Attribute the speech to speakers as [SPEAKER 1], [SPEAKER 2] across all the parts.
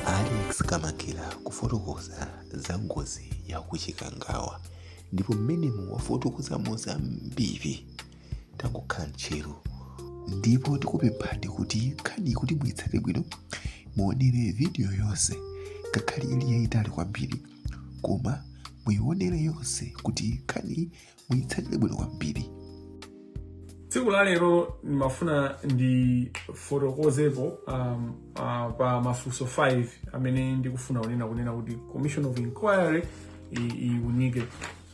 [SPEAKER 1] Alex Kamangila kufotokoza za ngozi ya ku Chikangawa ndipo mmenemo wafotokozamo zambiri. Tangokhalani tcheru ndipo tikupemphani kuti nkhani kuti muitsate bwino muonere vidiyo yonse ngakhale ili yayitali kwambiri koma muiwonere yonse kuti nkhani muyitsatire bwino kwambiri
[SPEAKER 2] tsiku la lero ndimafuna ndifotokozepo um, uh, pa mafunso 5 amene ndikufuna kunena kunena kuti commission of inquiry i- iunike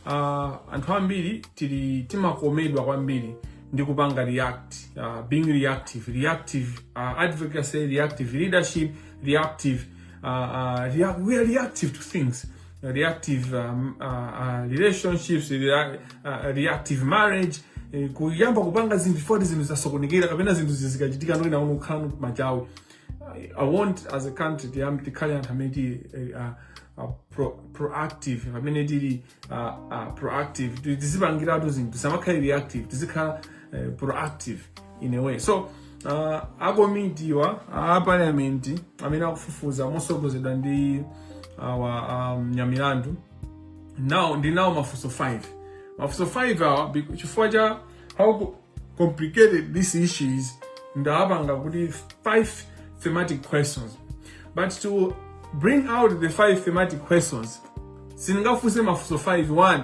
[SPEAKER 2] uh, anthu ambiri tili timakomedwa kwambiri ndi kupanga react uh, being reactive reactive uh, advocacy reactive leadership reactive uh, uh, react, we are reactive to things reactive um, uh, uh, relationships rea, uh, reactive marriage eh, kuyamba kupanga zinthu before zinthu zasokonekera kapena zinthu zi- zikachitika ndoina uno kukhala machawi I- i want as a country tiyam tikhale anthu amene tili eh, ah, ah, pro, proactive pamene tili ah, ah, proactive Ti- tizipangiratu zinthu tisamakhale reactive tizikhala eh, proactive in a way so uh, akomitiwa a parliament amene akufufuza mosogozedwa ndi awa um, Nyamilandu now ndinawo mafunso 5 mafunso 5 awa bec- chifukwa cha how co- complicated this issue is ndawapanga kuti 5 thematic questions but to bring out the 5 thematic questions sindingafunse mafunso 5 1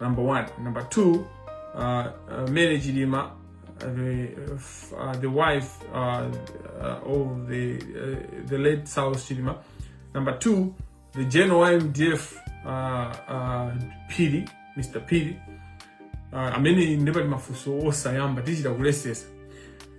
[SPEAKER 2] number one number two uh, uh, mary chilima uh, the, uh, the wife uh, uh, of the, uh, the late south chilima number two the general mdf uh, uh, pili mr pili uh, amene ndipati mafunso osayamba tichita kulesesa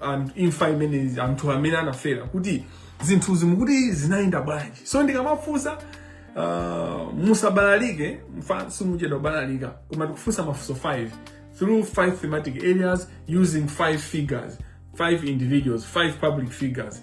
[SPEAKER 2] anthu- imfa imene anthu amene anafera kuti zinthuzi mukuti zinayenda bwanji so ndikamafunsa uh, musabalalike chifukwa simuchedwa kubalalika koma tikufunsa mafunso 5 through 5 thematic areas using 5 figures 5 individuals 5 public figures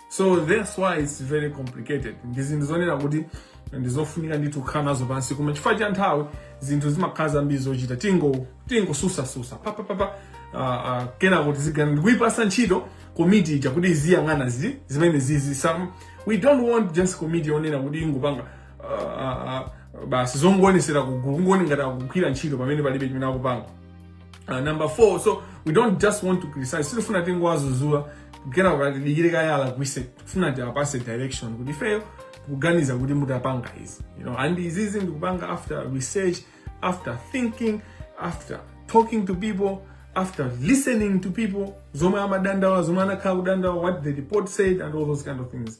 [SPEAKER 2] so that's why it's very complicated ndi zinthu zonena kuti ndizofunika ndithu kukhala nazo pansi koma chifukwa cha nthawi zinthu zimakhala zambiri zochita tingo tingosusasusa papapapa uh, uh, kenako tizigana ndikuipasa ntchito komiti ija kuti iziyang'ana zi zimenezizi so we don't want just komiti yonena kuti ingopanga uh, uh, uh, basi zongoonetsera kugulu kungooneka ngati akugwira ntchito pamene palibe chimene akupanga Uh, number four, so we don't just want to criticize. Sitikufuna tingowazuzula kenako tidikire kaye alakwise tikufuna tiwapase direction kuti ifeyo tikuganiza kuti mutapanga izi you know and izizi ndikupanga after research after thinking after talking to people after listening to people zomwe amadandaula zomwe anakhala akudandaula what the report said and all those kind of things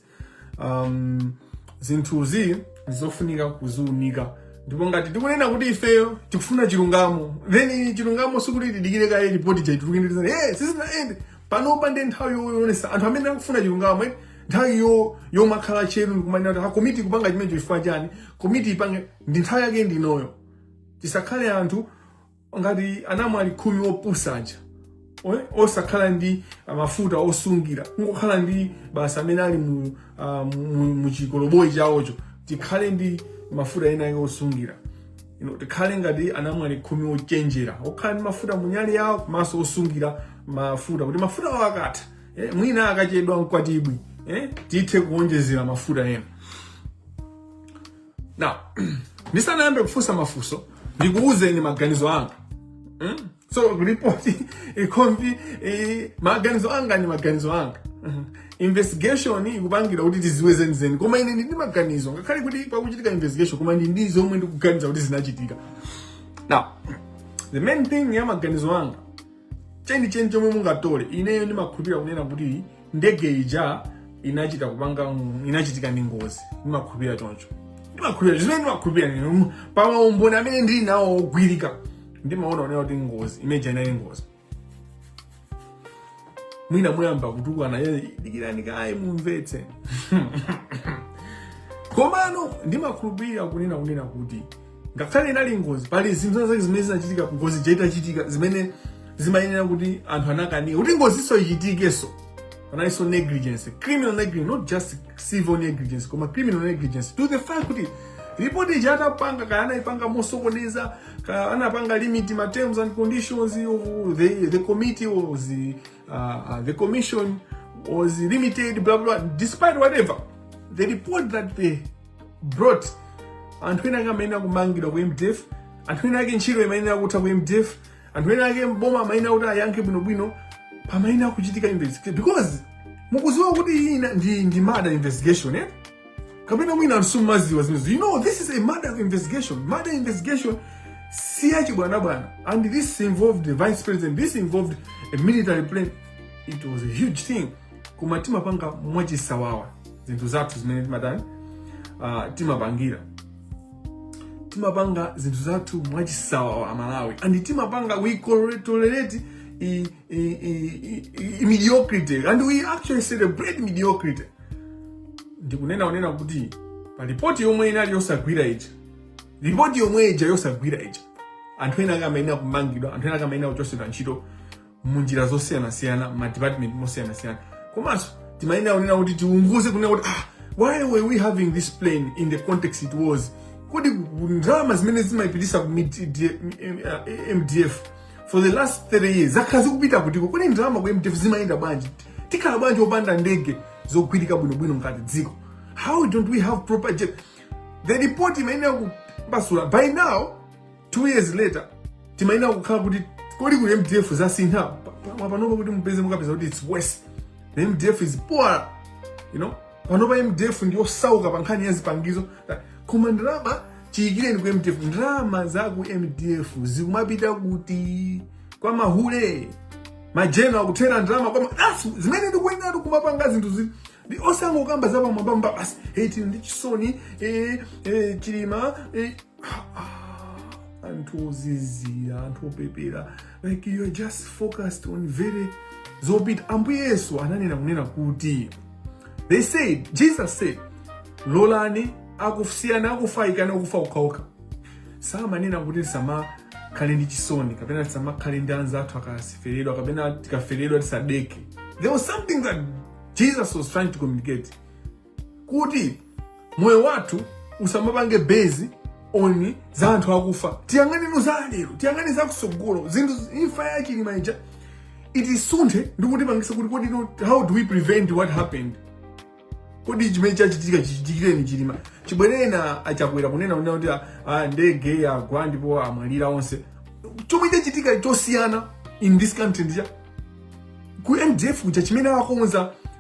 [SPEAKER 2] um, zinthuzi ndizofunika kuziunika ndipo ngati tikunena kuti ifeyo tikufuna chilungamo then chilungamo sikuti tidikire kaye ripoti chaitulukindizana hey, sizinaende panopa ndi nthawi yoyonesa anthu amene akufuna chilungamo eh, nthawi yomakhala tcheru ndikumanena kuti akomiti kupanga chimenecho chifukwa chani komiti ipange ndi nthawi yake ndinoyo tisakhale anthu ngati anamwali khumi opusa aja oe- osakhala ndi ah, mafuta osungira kungokhala ndi basi amene ali mu, ah, mu, mu chikoloboyi chawocho tikhale ndi mafuta ena ake osungira you know, tikhale ngati anamwali khumi ochenjera okhala ndi mafuta mu nyali yawo komanso osungira mafuta kuti mafuta awo akatha eh, mwina akachedwa mkwatibwi eh, tithe kuonjezera mafuta ena now ndisanayambe kufunsa mafunso ndikuwuzeni maganizo anga mm? so ripoti ikomvi eh, maganizo anga ni maganizo anga Mhm. investigation ikupangidwa kuti tiziwe zenizeni koma ine ndili ndi maganizo ngakhale kuti pakuchitika investigation koma ndili ndi zomwe ndikuganiza kuti zinachitika now the main thing ya maganizo anga chenicheni chomwe mungatole ineyo ndimakhulupirira kunena kuti ndege ija inachita kupanga mm, inachitika ndi ngozi ndimakhulupirira choncho ndimakhulupirira zimene ndimakhulupirira inuyo mm, pa maumboni amene ndili nawo ogwirika ndimaona kunena kuti ngozi imene ija inali ngozi mwina muyamba kutukwana "Eh, dikirani kaye mumvetse komano ndimakhulupirira kunena kunena kuti ngakhale inali ngozi pali zinthu zina zake zimene zinachitika ngozi ija itachitika zimene zimayenera kuti anthu anakanika kuti ngoziyo ichitikenso panalinso negligence criminal negligence not just civil negligence koma criminal negligence to the fact kuti ripoti ija atapanga kaya anaipanga mosokoneza kaya anapanga limit ma terms and conditions of the, the committee was uh, uh, the commission was limited blah blah despite whatever the report that they brought anthu ena ake amayenera kumangidwa ku mdf anthu ena ake ntchito imayenera kutha ku mdf anthu ena ake mboma amayenera kuti ayankhe bwinobwino pamayenera kuchitika investigation because mukuziwa kuti iyi ina- ndi, ndi murder investigation eh? kapena mwina anthu simumaziwa zimenezo you know this is a murder investigation murder investigation si yachibwanabwana and this involved the vice president this involved a military plane it was a huge thing koma timapanga mwachisawawa zinthu zathu zimene timatani uh, timapangira timapanga zinthu zathu mwachisawawa amalawi and timapanga we col- tolerate i- i- i- i- i- mediocrity and we actually celebrate mediocrity ndikunena kunena kuti pa ripoti yomwe inali yosagwira ija ripoti yomwe ija yosagwira ija anthu ena ake amayenera kumangidwa anthu ena ake amayenera kuchotsedwa ntchito munjira zosiyanasiyana ma department mosiyanasiyana komanso timayenera kunena kuti tiunguze kunena kuti ah why were we having this plane in the context it was kodi ndalama zimene zimapititsidwa ku mdf for the last 3 years zakhala zikupita kuti kodi ndalama ku mdf zimayenda bwanji tikhala bwanji opanda ndege zogwirika bwinobwino ngati dziko how don't we have proper jet the report imayenera kumasula by now two years later timayenera kukhala kuti kodi ku mdf zasintha panopa kuti mupeze mukapeza kuti its worse the mdf is poor you know panopa mdf ndiyosauka pa nkhani ya zipangizo koma ndalama chiyikireni ku mdf ndalama za ku mdf zikumapita kuti kwa mahule majenero akuthera ndalama kwa that's zimene ndikuyenera kumapanga zinthuzi osangokamba za pamwambamba basi hey tili ndi chisoni eh, eh, chilima eh, anthu ozizira anthu opepera like you are just focused on very zopita ambuye yesu ananena kunena kuti they said jesus said lolani kusiya akufa aikane akufa okhaokha samanena kuti tisamakhale ndi chisoni kapena tisamakhale ndi anzathu akafeledwa kapena tikafeledwa tisadeke there was something that jesus was trying to communicate kuti moyo wathu usamapange base on za anthu akufa tiyang'ane za lero tiyang'ane za kusogolo zinthu imfa ya chilima ija itisunthe ndi kutipangisa kuti kodi no- how do we prevent what happened kodi chimene chachitika chichitikireni chilima chibwereni achakwera kunena kunena kuti ah, ah, ndege yagwa ndipo amwalira onse chomwe chachitika chosiyana in this country ndi chani ku mdf kuja chimene akonza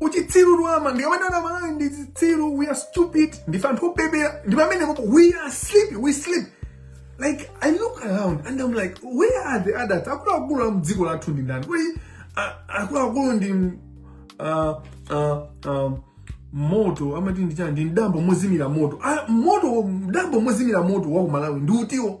[SPEAKER 2] uchitsiru timati aMalawi ndi zitsiru we are stupid ndife anthu opepera ndi pamenepopo we are sleeping we sleep like i look around and i'm like where are the adults akuluakulu a mdziko lathu ndi ndani kodi a- akuluakulu ndi m- ah, ah, ah, moto amati ndi chani ndi mdambo mozimira moto Ah, moto mdambo mozimira moto wa kumalawi ndi utiwo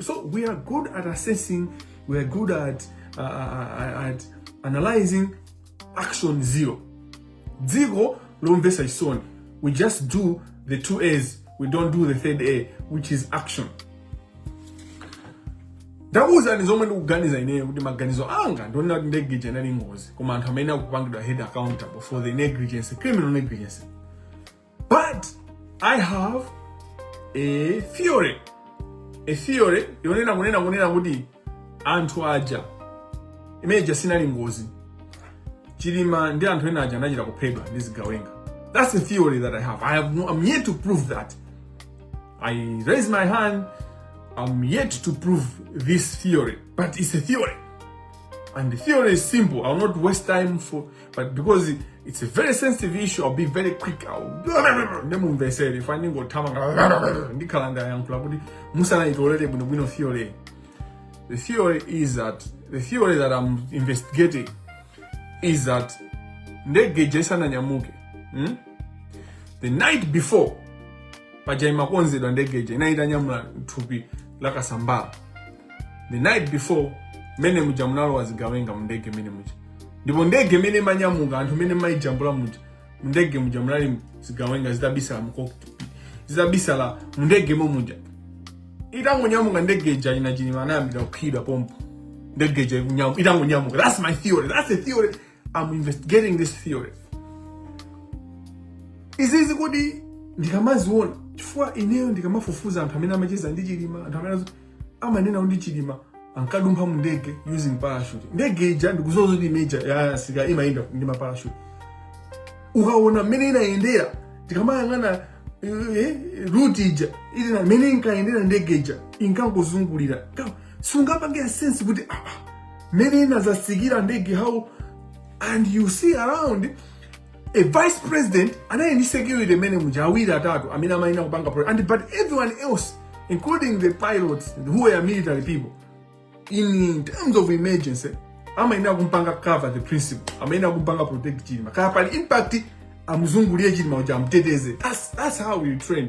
[SPEAKER 2] So we are good at assessing, we are good at, uh, uh, uh at analyzing action zero. Dziko lomvesa chisoni. We just do the two A's. We don't do the third A, which is action. ndakuwuzani zomwe ndikuganiza ineyo kuti maganizo anga ndionena kuti negligence inali ngozi koma anthu amene akupangidwa held accountable for the negligence criminal negligence but i have a theory a theory yonena kunena kunena kuti anthu aja imene ija sinali ngozi chilima ndi anthu ena aja anachita kuphedwa ndi zigawenga that's a theory that i have i have no, i'm yet to prove that i raise my hand i'm yet to prove this theory but it's a theory and the theory is simple i'll not waste time for but because it's a very sensitive issue i'll be very quick nde mumvesere chifukwa ndingothamanga ndikhala ndayankhula kale musanaitolere bwinobwino theory the theory is that the theory that i'm investigating is that ndege ija isananyamuke hmm? the night before paja imakonzedwa ndege ija inali itanyamula thupi la Kasambala the night before mene muja munalowa zigawenga mundege mene muja ndipo ndege mene imanyamuka anthu mene amaijambula muja mundege muja munali zigawenga zitabisala mu cockpit zitabisala mundege mo muja itangonyamuka ndege ija ina Chilima anayambira kuphedwa pompo ndege ija ikunyamu- itangonyamuka that's my theory that's a theory am investigating this theory izizi kodi ndikamaziona chifukwa ineyo ndikamafufuza anthu amene amacheza ndi chilima anthu amene amanena ndi chilima ankadumpha mu ndege using parachute ndege ija ndikudziwa kuti imene ija ya asilikali imayenda ndi maparachute ukaona mmene inayendera ndikamayang'ana eh, ruti ija ili na mmene inkayendera ndege ija inkangozungulira Ka- sizikupanga sense kuti ah, ah, mmene inazasikira ndege how and you see around a vice president anali ndi security mene muja awiri atatu amene amayenera kupanga pro- and but everyone else including the pilots who were military people in terms of emergency amayenera kumpanga cover the principle amayenera kumpanga protect chilima kukakhala impact amuzungulire chilima kuti amteteze that's, that's how you train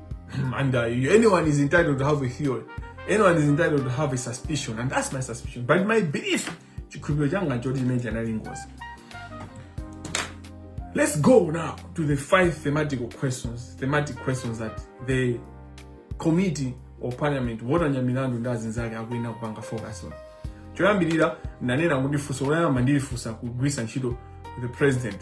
[SPEAKER 2] and uh, anyone is entitled to have a theory. Anyone is entitled to have a suspicion, and that's my suspicion. But my belief, chikhulupiriro changa choti imene ija sinali ngozi. Let's go now to the five thematical questions, thematic questions that the committee or parliament wotanya milandu ndi azinzake akuyenera kupanga focus on. Choyambirira ndanena kuti funso loyamba ndilifunsa kugwiritsa ntchito the president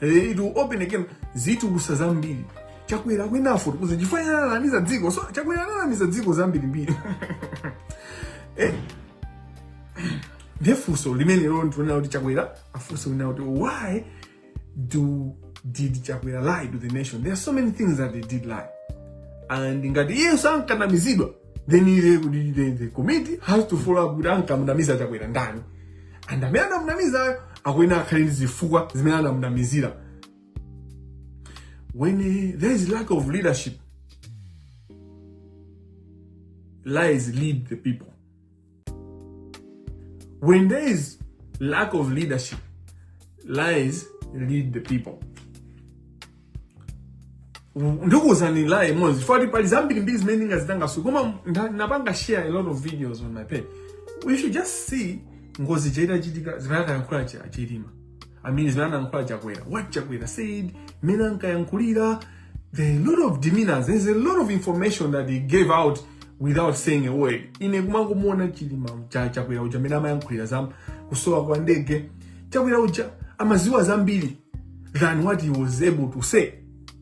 [SPEAKER 2] Eh, it will open again zitukusa zambiri chakwera akuyenera afotokoze chifukwa ananamiza dziko so chakwera ananamiza dziko zambirimbiri eh nde funso limene lero ndikufuna kuti chakwera afunsidwe ndi loti why do did chakwera lie to the nation there are so many things that they did lie and ngati iyenso ankanamizidwa then the, the, the, the committee has to follow up kuti ankamnamiza chakwera ndani and amene anamnamizayo akuyenera akhale ndi zifukwa zimene anamnamizira when uh, there is lack of leadership lies lead the people When there is lack of leadership, lies lead the people. ndikuuzani lie imodzi poti pali zambirimbiri zimene ndingazitambasule koma nda- napanga share a lot of videos on my page we should just see ngozi itachitika zimene anayankhula chilima I mean zimene anayankhula chakwera what chakwera said mmene ankayankhulira there are a lot of demeanors there's a lot of information that he gave out without saying a word ine kumangomuona chilima cha chakwera uja mmene amayankhulira za kusowa kwa ndege chakwera uja amaziwa zambiri than what he was able to say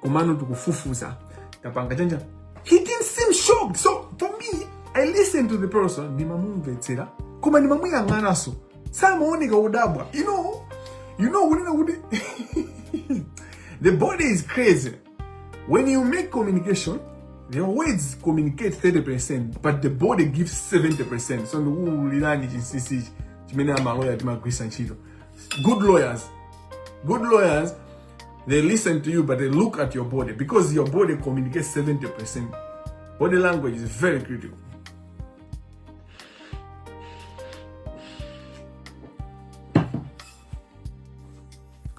[SPEAKER 2] komano tikufufuza tapanga chanja he didn't seem shocked so for me i listen to the person ndimamumvetsera koma ndimamuyang'ananso samaoneka odabwa you know you know kunena kuti the body is crazy when you make communication your words communicate 30% but the body gives 70% so ndikuulirani chinsisichi chimene amaloya timagwisa ntchito good lawyers good lawyers They listen to you, but they look at your body because your body communicates 70%. Body language is very critical.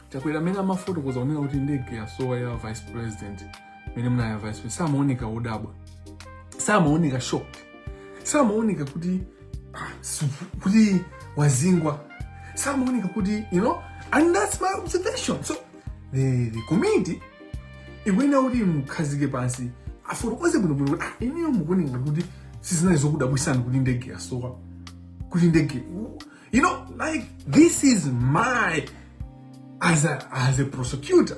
[SPEAKER 2] chakwera mmene amafotokoza kunena kuti ndege yasowa ya vice president mene muna ya vice president samaoneka odabwa samaoneka shocked samaoneka kuti ah, kuti wazingwa samaoneka kuti you know and that's my observation so the, the committee ikuyenera kuti imukhazike pansi afotokoze bwinobwino kuti ah, ineyo mukuoneka kuti sizinali zokudabwisani kuti ndege yasowa kuti ndege you know like this is my as a, as a prosecutor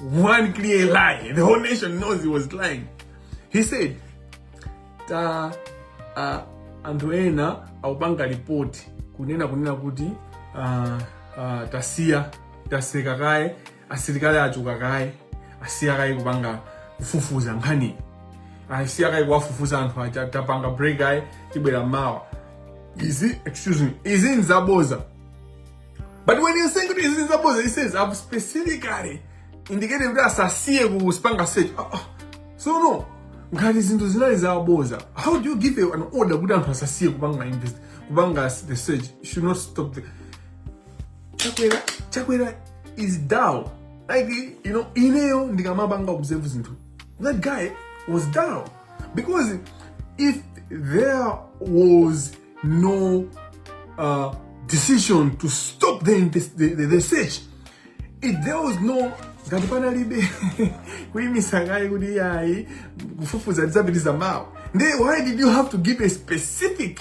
[SPEAKER 2] One clear lie. The whole nation knows he was lying. He said, ta uh, anthu ena akupanga ripoti kunena kunena kuti uh, uh, tasiya taseka kaye asilikali achoka kaye asiya kaye kupanga kufufuza nkhani asiya kaye kuwafufuza anthu aja tapanga break kaye tibwera mawa izi excuse me izi nzaboza but when you're saying kuti izi zaboza he says i've specifically indicated kuti asasiye kupanga search oh, oh. so no ngati zinthu zinali zaboza how do you give an order kuti anthu asasiye kupanga invest kupanga the search should not stop the Chakwera Chakwera is down like you know ineyo ndikamapanga observe zinthu that guy was down because if there was no uh, decision to stop the, the, the, the search. If there was no ngati panalibe kuyimitsa kaye kuti yayi kufufuza tidzapitiriza mawa then why did you have to give a specific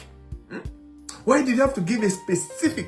[SPEAKER 2] hmm? why did you have to give a specific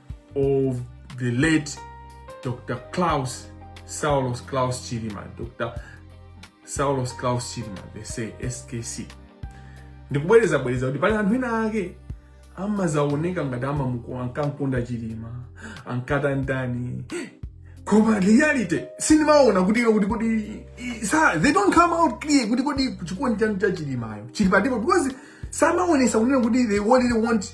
[SPEAKER 2] of the late Dr. Klaus, Saulos Klaus Chilima, Dr. Saulos Klaus Chilima, they say SKC. Ndikubwereza bwereza kuti pali anthu ena ake amazaoneka ngati ankamuko ankamkonda Chilima, ankatani tani. Koma reality sindimaona kuti kuti kuti sa they don't come out clear kuti kuti chikondi chanu cha Chilimacho chili patipo because samaonesa kunena kuti they really want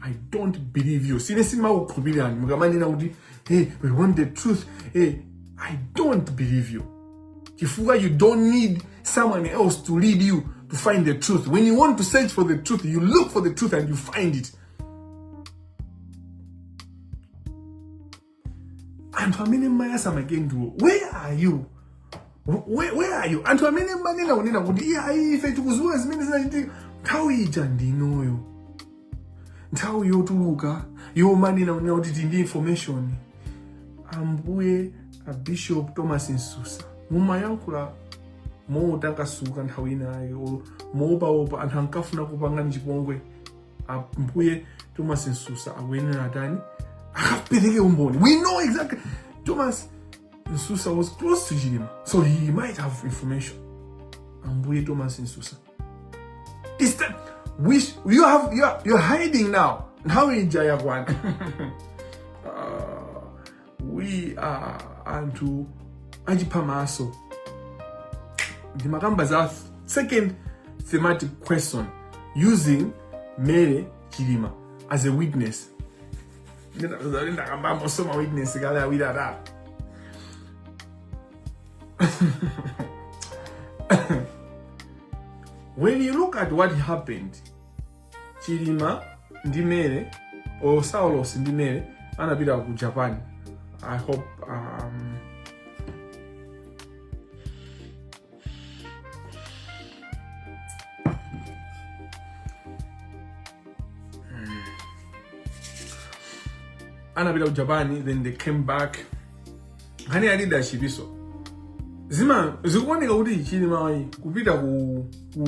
[SPEAKER 2] i don't believe you sine simakukhulupirani mukamanena kuti hey we want the truth hey i don't believe you chifukwa you don't need someone else to lead you to find the truth when you want to search for the truth you look for the truth and you find it anthu amene mumayatsa makandulo where are you where, where are you anthu amene mumanena kunena kuti iyayi ife tikudziwa zimene zinachitika nthawi ija ndinoyo nthawi yotuluka yomanena kunena kuti tili ndi information ambuye a Bishop Thomas Msusa mumayankhula motakasuka nthawi inayo moopaopa anthu ankafuna kupangani chipongwe ambuye thomas nsusa akuyenera atani akapereke umboni we know exactly thomas nsusa was close to chilima so he might have information ambuye thomas nsusa It's the, which you have you are, you're hiding now nthawi ija yakwana we are anthu achiphamaso ndimakamba za second thematic question using Mary Chilima as a witness ndakambamo za ma witness kale awiri atatu when you look at what happened Chilima ndi Mary or Saulos ndi Mary anapita ku Japan I hope um, anapita ku Japan then they came back nkhani ya leadership ndiso zima zikuoneka kuti Chilimayu kupita ku, ku,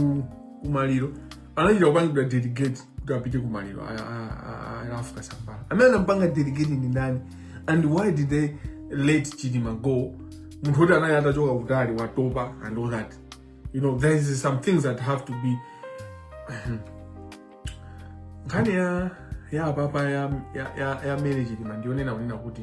[SPEAKER 2] ku maliro anachita kupangidwa delegate kuti apite ku maliro a- a- a- a Ralph Kasambara amene anampanga delegate ndi ndani and why did they let Chilima go munthu woti anali atachoka kutali watopa and all that you know there is some things that have to be nkhani ya ya apapa ya ya ya, ya Mary Chilima ndiyonena kunena kuti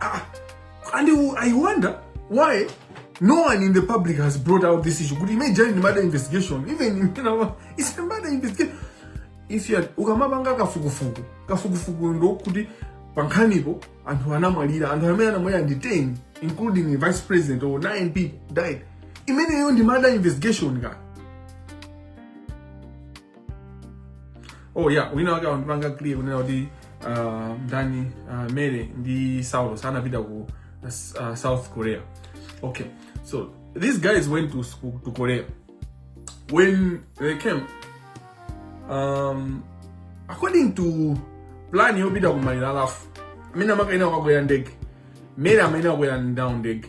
[SPEAKER 2] Ah, and I wonder why no one in the public has brought out this issue. kuti imene ija ndi murder investigation, even you know, it's a murder investigation. If you had ukamapanga kafukufuku, kafukufuku ndi woti pankhanipo anthu anamwalira anthu amene anamwalira ndi 10 including the vice president or 9 people died imeneyo ndi murder investigation kaya oh yeah wina wake akundipanga clear kunena kuti uh, ndani uh, mary ndi saulo sanapita ku uh, south korea okay so these guys went to, sc- to korea when they came um, according to plan yopita ku maliro a Ralph amene amakayenera kukakwera ndege mary amayenera kukwera nawo ndege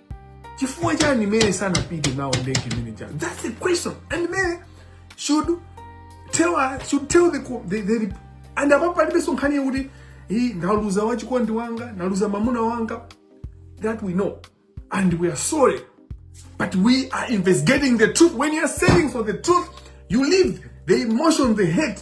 [SPEAKER 2] chifukwa chani mene sanapite nawo ndege imene chani that's the question and mene should tell us, should tell the, the, the, the and apapo palibenso nkhani yakuti iyi ndaluza wachikondi wanga ndaluza mamuna wanga that we know and we are sorry but we are investigating the truth when you are saying for the truth you leave the emotion the hate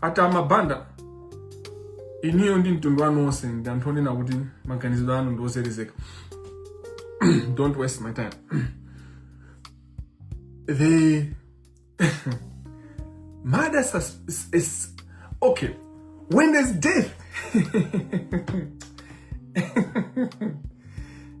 [SPEAKER 2] a Tama Banda iniyo ndi mtundu wanu wonse ndi anthu onena kuti maganizo anu ndi ozelezeka don't waste my time the murder sus- is, is okay when there's death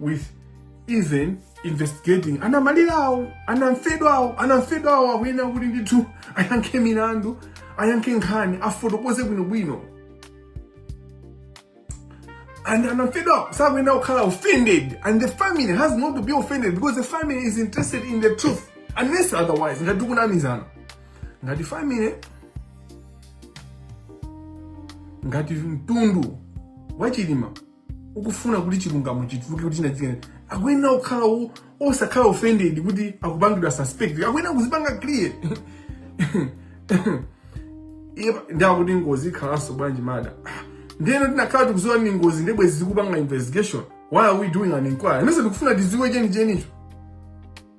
[SPEAKER 2] with even investigating anamalirawo anamfedwawo anamfedwawo akuyenera kuti ndithu ayankhe milandu ayankhe nkhani afotokoze bwinobwino and anamfedwawo sakuyenera kukhala offended and the family has not to be offended because the family is interested in the truth unless otherwise ngati tikunamizana ngati family ngati mtundu wa Chilima ukufuna kuti chilungamo chituluke kuti chinachitika akuyenera kukhala wo- osakhala offended kuti akupangidwa suspect akuyenera kuzipanga clear iye pa- ndi akuti ngozi ikhalanso bwanji murder Ah, ndeno tinakhala tikuziwa ndi ngozi nde bwenzi tikupanga investigation why are we doing an inquiry nde ife tikufuna tiziwe chenichenicho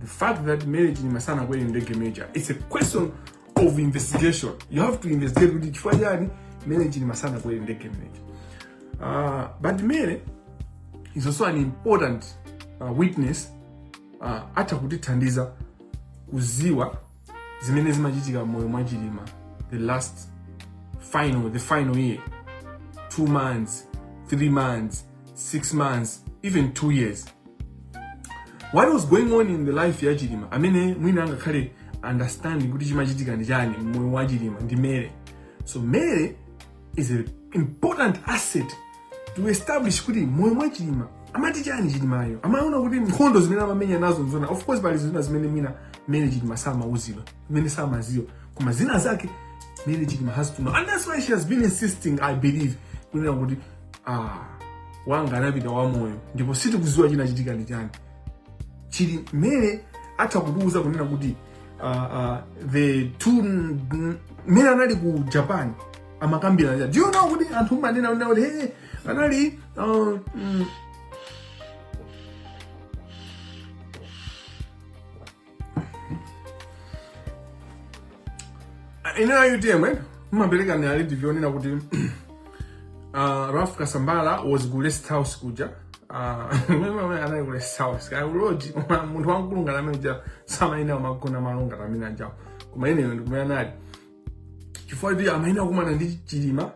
[SPEAKER 2] The fact that Mary Chilima sanakwere ndege major, it's a question of investigation. You have to investigate kuti chifukwa chani Mary Chilima sanakwere ndege major. Uh, but Mary is also an important uh, witness uh, atha kutithandiza kuziwa zimene zimachitika moyo mwa Chilima the last final the final year two months three months 6 months even 2 years what was going on in the life ya chilima amene mwina angakhale understanding kuti chimachitika ndi chani mmoyo wa chilima ndi mary so mary is an important asset to establish kuti mmoyo mwa chilima amati chani chilimayo amaona kuti nkhondo zimene amamenya nazo nzoona of course pali zina zimene mwina mary chilima samauzidwa zimene samaziwa koma zina zake mary chilima has to know and that's why she has been insisting i believe kunena kuti ah, wanga anapita wamoyo ndipo sitikuziwa chinachitika ndi chani chili mmene atha kutiuza kunena kuti uh, uh, the two mmene anali ku japan amakambirana do you know kuti anthu mmanena kunena kuti hey, anali uh, mm, ineyo a utm eh, mumapereka ni alibi yonena kuti uh, ralph kasambara was ku rest house kuja Ah, anali ku rest house kaya kuloji koma munthu wamkulunga amene uja samayenera kumagona malo ngati amene ajawo koma ineyo ndikumene anali chifukwa kuti amayenera kukumana ndi chilima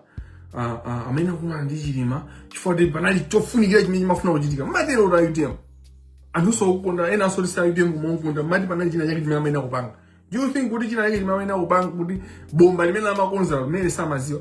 [SPEAKER 2] ah, ah, amayenera kukumana ndi chilima chifukwa kuti panali chofunikira chimene chimafuna kuchitika mati leader wa utm anthunso okukonda ena asolisa utm kumakonda mati panali china chake chimene amayenera kupanga do you think kuti china chake chimene amayenera kupanga kuti bomba limene amakonza Mary samaziwa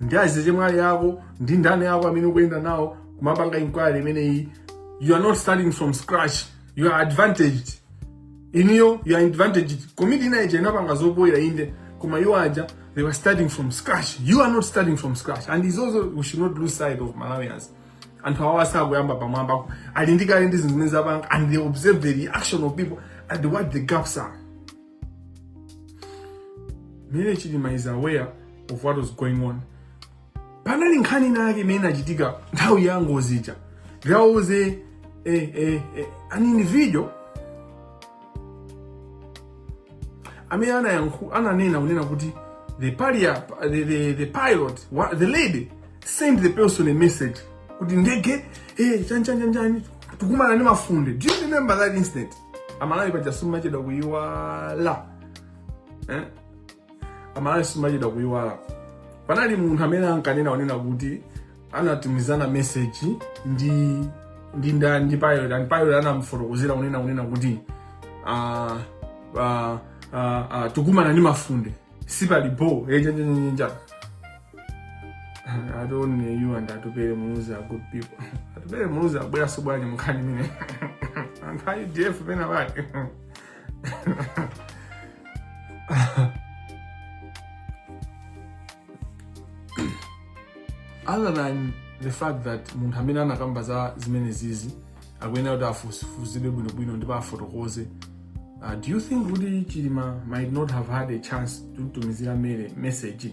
[SPEAKER 2] ndi azichemwali ako ndi ndani ako amene ukuyenda nawo kumapanga inquiry imeneyi you are not starting from scratch you are advantaged inuyo you are advantaged komiti ina ija inapanga zopoira inde koma iwo aja they were starting from scratch you are not starting from scratch and it's also we should not lose sight of malawians anthu awa sakuyamba pamwamba ali nazo kale ndi zinthu zimene zapanga and they observe the reaction of people and what the gaps are Mary chilima is aware of what was going on panali nkhani ina yake imene inachitika nthawi ya ngozi ija there was a, a, a, a, an individual amene anayankhu ananena kunena kuti the, paria, the, the, the pilot wa- the lady sent the person a message kuti ndege eh, chanichanichani tikumana ndi mafunde do you remember that incident amalawi paja simuchedwa kuyiwala eh? amalawi simuchedwa kuyiwala panali munthu amene ankanena kunena kuti anatumizana meseji ndi ndi ndani ndi pilot and pilot anamfotokozera kunena kunena kuti uh, uh, uh, uh, tikumana ndi mafunde sipali bo chanichani I don't know you and Atupele Muluzi are good people. Atupele Muluzi wabweraso bwanji munkhani imeneyi. Anthu a UDF penapake. Other than the fact that munthu amene anakamba za zimenezizi akuyenera kuti afufuzidwe bwinobwino ndipo afotokoze uh, do you think kuti chilima might not have had a chance to tumizira Mary message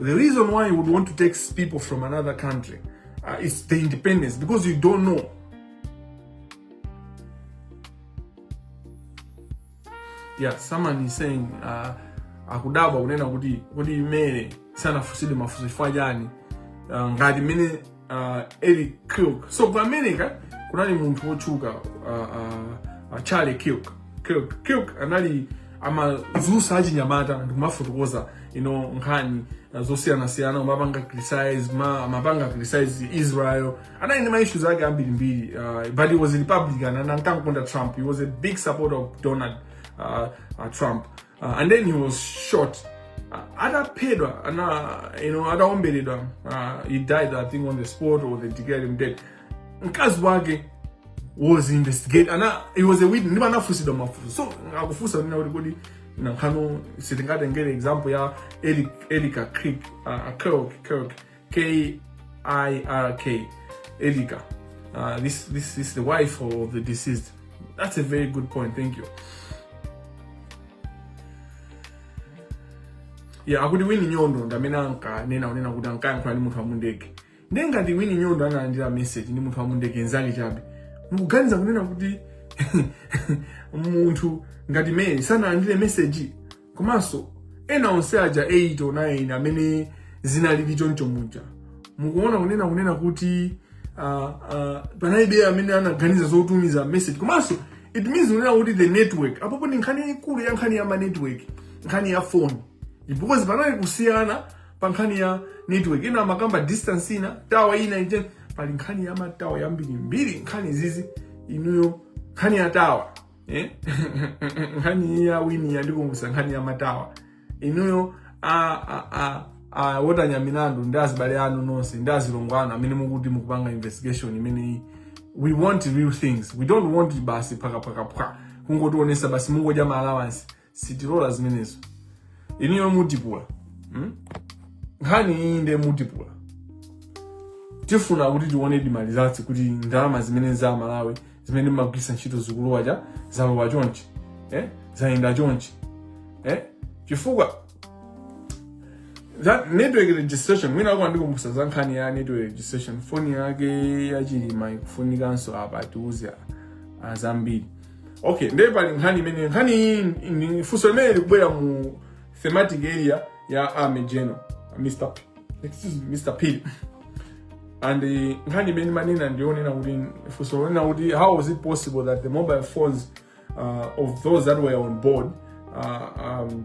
[SPEAKER 2] The reason why you would want to take people from another country uh, is the independence because you don't know. Yeah, someone is saying uh, akudabwa kunena kuti kodi Mary sanafusidwe mafunso chifukwa chani uh, ngati Mary uh, Erika Kirk. So ku America kunali munthu wotchuka uh, uh, uh, Charlie Kirk. Kirk Kirk anali amadzutsa achinyamata ndikumafotokoza ino nkhani uh, zosiyanasiyana umapanga criticize ma amapanga criticize Israel anali ndi maissues ake ambirimbiri uh, but he was a republican and ankamukonda Trump he was a big supporter of Donald uh, uh, Trump uh, and then he was shot uh, ataphedwa ana you know ataomberedwa uh, he died i think on the spot or they declared him dead mkazi wake was investigated and he was a witness ndipo anafunsidwa mafunso so akufunsa kunena kuti kodi nanga sitingatengere example ya Eric Erika Kirk uh, Kirk Kirk K I R K, Erika. Uh, this this is the wife of the deceased. That's a very good point. Thank you. Yeah, akuti Winnie Nyondo ndamene anka nena kunena kuti ankayankhula ndi munthu wa mundege ndiye ngati Winnie Nyondo analandira message ndi munthu wa mundege nzake chabe mukuganiza kunena kuti munthu ngati Mary sanalandire message komanso ena onse aja 8 or 9 amene zinalili choncho muja mukuona kunena kunena kuti uh, uh, panalibe amene anaganiza zotumiza message komanso it means kunena kuti the network apopo ndi nkhani yaikulu ya nkhani ya ma network nkhani ya phone because panali kusiyana pa nkhani ya network ena amakamba distance ina tower ina ite pali nkhani ya ma tower yambirimbiri nkhani izizi inuyo nkhani ya tower eh? nkhani iyi ya Winnie yandikumbutsa nkhani ya ma tower inuyo a, a, a, a Walter Nyamilandu ndi azibale anu nonse ndi azilongo anu amene mukuti mukupanga investigation imeneyi we want real things we don't want basi phwakaphwakaphwa kungotionesa basi mungodya ma allowance sitilola zimenezo inuyo mutipula hmm? nkhani iyi nde mutipula tifuna kuti tione ndi ma results kuti ndalama zimene za amalawi zimene mmagwiritsa ntchito zikulowa cha zalowa chonchi eh? zayenda chonchi eh? chifukwa za network registration mwina kwandikumbutsa za nkhani ya network registration foni yake yachilima ikufunikanso apa itiuze zambiri okay ndiye pali nkhani imene nkhani iyi ndi funso limene likubwera mu thematic area ya army general mr P- excuse me, mr phiri and eh, nkhani imene manena ndiyonena kuti funso lonena kuti how was it possible that the mobile phones uh, of those that were on board uh, um,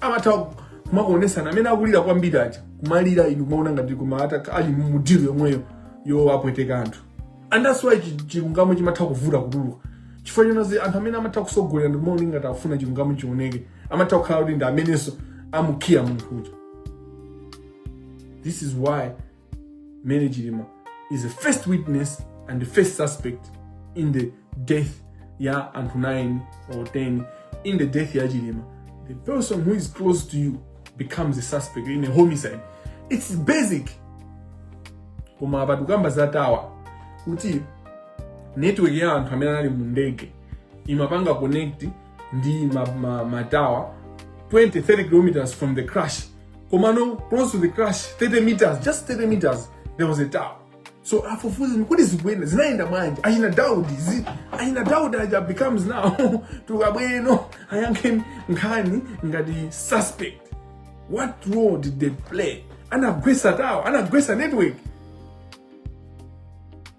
[SPEAKER 2] amatha kumakuonesana amene akulira kwambiri aja kumalira inu kumaona ngati koma ata- ali mu deal yomweyoyo yopweteka anthu and that's why chi- chilungamo chimatha kuvuta kutuluka chifukwa choti anthu amene amatha kutsogolera ndikumaona ngati akufuna chilungamo chioneke amatha kukhala kuti ndi amenenso amukhiya munthu uja this is why Mary Chilima is the first witness and the first suspect in the death ya anthu 9 or 10 in the death ya Chilima. The person who is close to you becomes a suspect in a homicide. It's basic. Koma apa tikukamba za tower kuti network ya anthu amene anali mu ndege imapanga connect ndi ma, ma, ma tower 20 30 kilometers from the crash komano close to the crash 30 meters just 30 meters there was a tower so afufuzi kuti zibwenzi zinayenda bwanji achina daudi zi achina daudi aja becomes now tukabweno ayankhe nkhani ngati suspect what role did they play anagwesa tower anagwesa network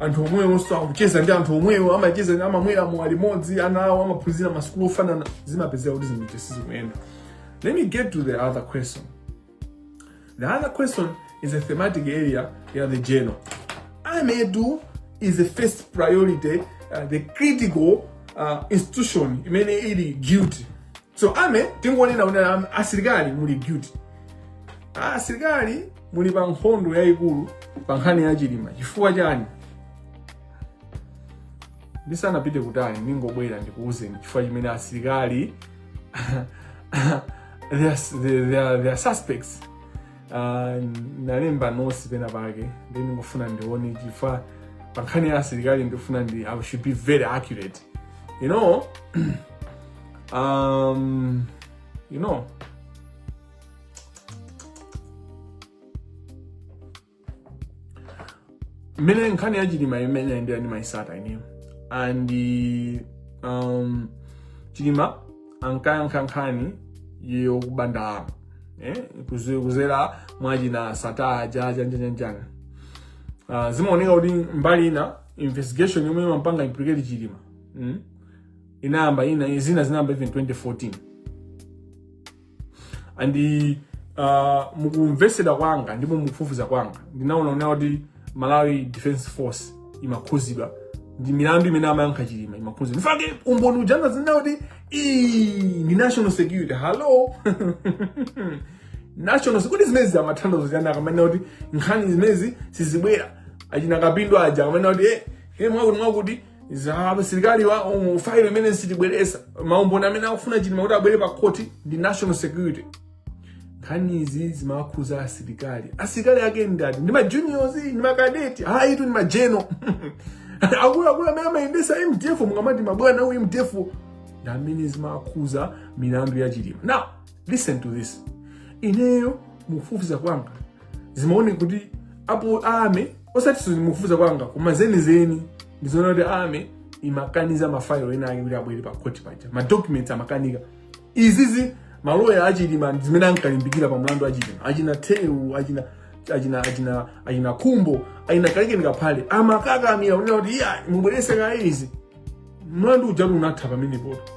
[SPEAKER 2] anthu omwewonso akucheza ndi anthu omwewo amacheza amamwera mowa limodzi ana awo amaphunzira masukulu ofanana zimapezeka kuti zinthu sizikuyenda let me get to the other question the other question is a thematic area ya the general army is the first priority uh, the critical uh, institution imene ili guilty so army tingonena kuti am- asilikali muli guilty Ah, asilikali muli pa nkhondo yayikulu pa nkhani ya chilima chifukwa chani ndisanapite kutali ndingobwera ndikuwuzeni chifukwa chimene asilikali they are, they, they are, they are suspects Ah, ndalemba notes pena pake ndi ndingofuna ndione chifukwa pa nkhani ya asilikali ndifuna ndi i should be very accurate you know Um, you know, mmene nkhani ya chilima imene ndimayitsata ineyo and um, chilima ankayankha nkhani yokuba ndalama eh? kuzi- kuzera mwachina Sattar aja njanjanjana uh, zimaoneka kuti mbali ina investigation yomwe imapanga implicate chilima mm? inayamba ina zina zinayamba even 2014 and uh, mukumvesera kwanga ndipo mukufufuza kwanga ndinaona kunena kuti malawi defense force imakhuzidwa ndi milandu imene amayankha chilima imakhuzidwa nchifukwa chake umboni uja amkaziona kuti ii ndi national security hallo national security zimezi amathandizo chani akamanena kuti nkhani zimezi sizibwera achina kapindo aja akamanena kuti eh eh mwakuti mwakuti asilikali wa um, failo imene sitibweresa maumboni amene akufuna chilima kuti abwere pa khoti ndi national security nkhanizi zimakhuza asilikali asilikali ake ndati ndi majuniors ndi makadeti hayi tu ndi majenero akuluakulu amene amayendesa mdf mukamati mabwana aku mdf ndi amene zimakhuza milandu ya chilima now listen to this ineyo mukufufuza kwanga zimaoneka kuti apo army osati mukufufuza kwanga koma zenizeni ndizoona kuti army imakaniza mafailo ena ake kuti abwere pa court paja madocuments amakanika izizi maloya achilima zimene ankalimbikira pa mlandu wa chilima achina theu achina achina achina achina khumbo achina kalekeni kaphale amakakamira kunena kuti iya mubwerese kaye izi mlandu ujatu unatha pamenepotu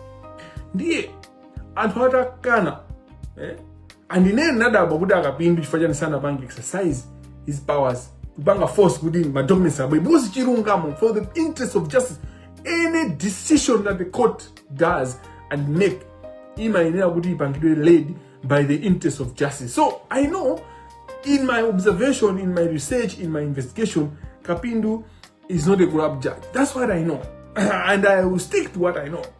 [SPEAKER 2] ndiye anthu atakana eh? and ine ndinadabwa kuti akapindu chifukwa chani sanapange exercise his powers kupanga force kuti madocuments abwere because chilungamo for the interest of justice any decision that the court does and make imayenera kuti ipangidwe led by the interest of justice so i know in my observation in my research in my investigation kapindu is not a corrupt judge that's what i know and i will stick to what i know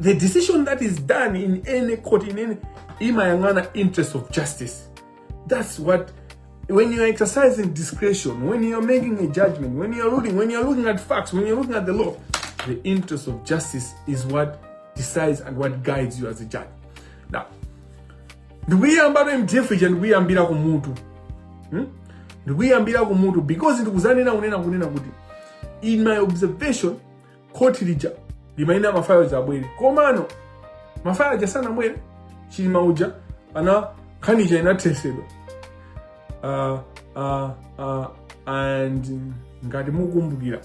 [SPEAKER 2] the decision that is done in any court in any imayang'ana interest of justice that's what when you're exercising discretion when you're making a judgment when you're ruling when you're looking at facts when you're looking at the law the interest of justice is what decides and what guides you as a judge now ndikuyiyambatu mdf ija ndikuyiyambira ku mutu hmm? ndikuyiyambira ku mutu because ndikuzanena kunena kunena kuti in my observation khoti lija limayenera mafailo aja abwere komano mafailo aja sanabwere chilima uja ana nkhani ija inathesedwa uh, uh, uh, and mm, ngati mukumbukira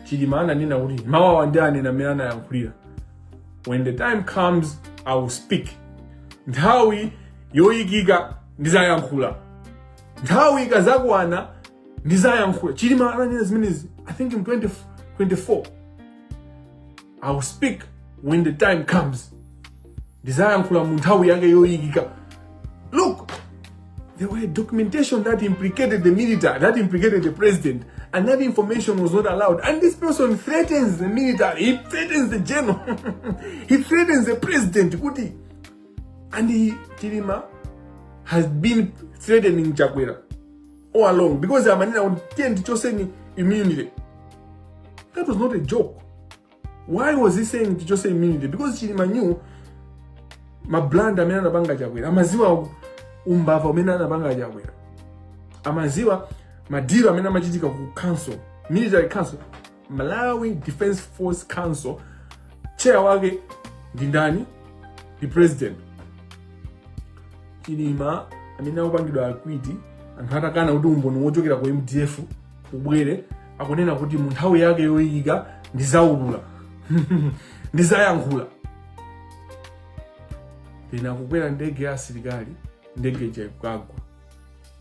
[SPEAKER 2] chilima ananena kuti mawu awa ndianena mmene anayankhulira when the time comes i will speak nthawi yoyikika ndizayankhula nthawi ikazakwana ndizayankhula chilima ananena zimenezi i think in 2024 i will speak when the time comes ndizayankhula mu nthawi yake yoyikika look there were documentation that implicated the military that implicated the president and that information was not allowed and this person threatens the military he threatens the general he threatens the president kuti and he chilima has been threatening chakwera all along because amanena kuti tiyeni tichoseni immunity that was not a joke why was he saying tichose immunity because chilima knew mablunder amene anapanga chakwera amaziwa umbava umene anapanga chakwera amaziwa madilu amene amachitika ku council military council Malawi Defense Force Council chair wake ndi ndani? Ndi president Chilima amene akupangidwa acquit anthu atakana kuti umboni wochokera ku MDF ubwere akunena kuti mu nthawi yake yoikika ndizaulula ndizayankhula pena akukwera ndege ya asilikali ndege ija ikagwa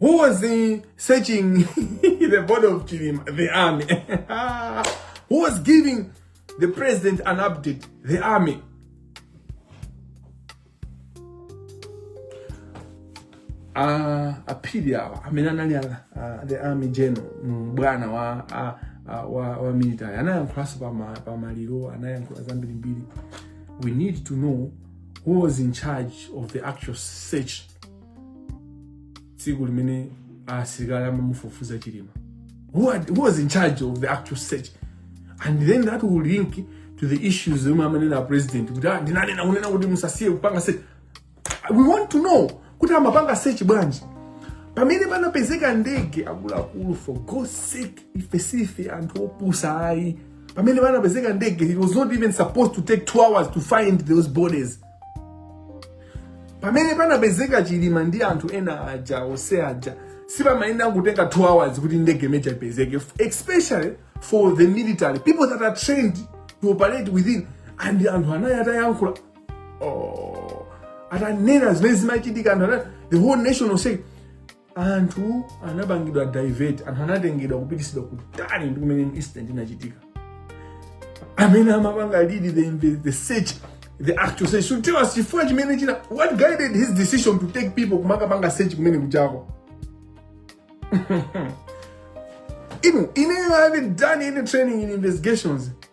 [SPEAKER 2] Who was searching the body of Chilima? The army. Who was giving the president an update? The army. Uh, a Phiri awa amene anali uh, the army general mm, bwana wa uh, uh, wa, wa military anayankhulanso pa maliro anayankhula zambirimbiri we need to know who was in charge of the actual search tsiku limene asilikali amamufufuza chilima who, had, who was in charge of the actual search and then that will link to the issues zomwe amanena a president kuti "Ah, ndinanena kunena kuti musasiye kupanga search we want to know kuti amapanga search bwanji pamene panapezeka ndege akuluakulu for God's sake ife sife anthu opusa ayi pamene panapezeka ndege it was not even supposed to take two hours to find those bodies pamene panapezeka chilima ndi anthu ena aja ose aja sipamayenera kutenga two hours kuti ndege imene ija ipezeke especially for the military people that are trained to operate within and anthu anali atayankhula oh atanena zimene zimachitika anthu anati the whole nation was saying anthu anapangidwa divert anthu anatengedwa kupitisidwa kutali ndi kumene incident inachitika amene amapanga lead the, the, the search the actual search should tell us chifukwa chimene china what guided his decision to take people kumakapanga search kumene kujako inu ine i haven't done any training in investigations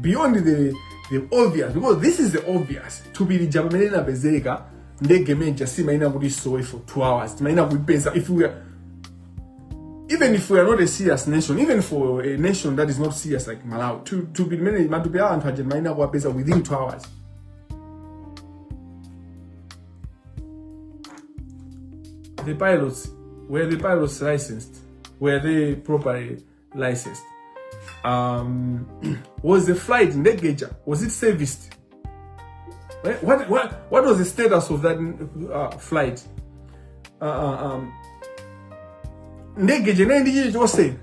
[SPEAKER 2] beyond the the obvious because this is the obvious thupi lija pamene linapezeka ndege imene ija simayenera kuti isowe for two hours timayenera kuipeza if we are, even if we are not a serious nation even for a nation that is not serious like malawi thu- thupi limene matupi a anthu aja timayenera kuwapeza within two hours the pilots were the pilots licensed were they properly licensed um, was the flight ndege ija was it serviced Eh, what, what, what was the status of that uh, flight uh, uh, um, ndege ija inali ndi chilichonse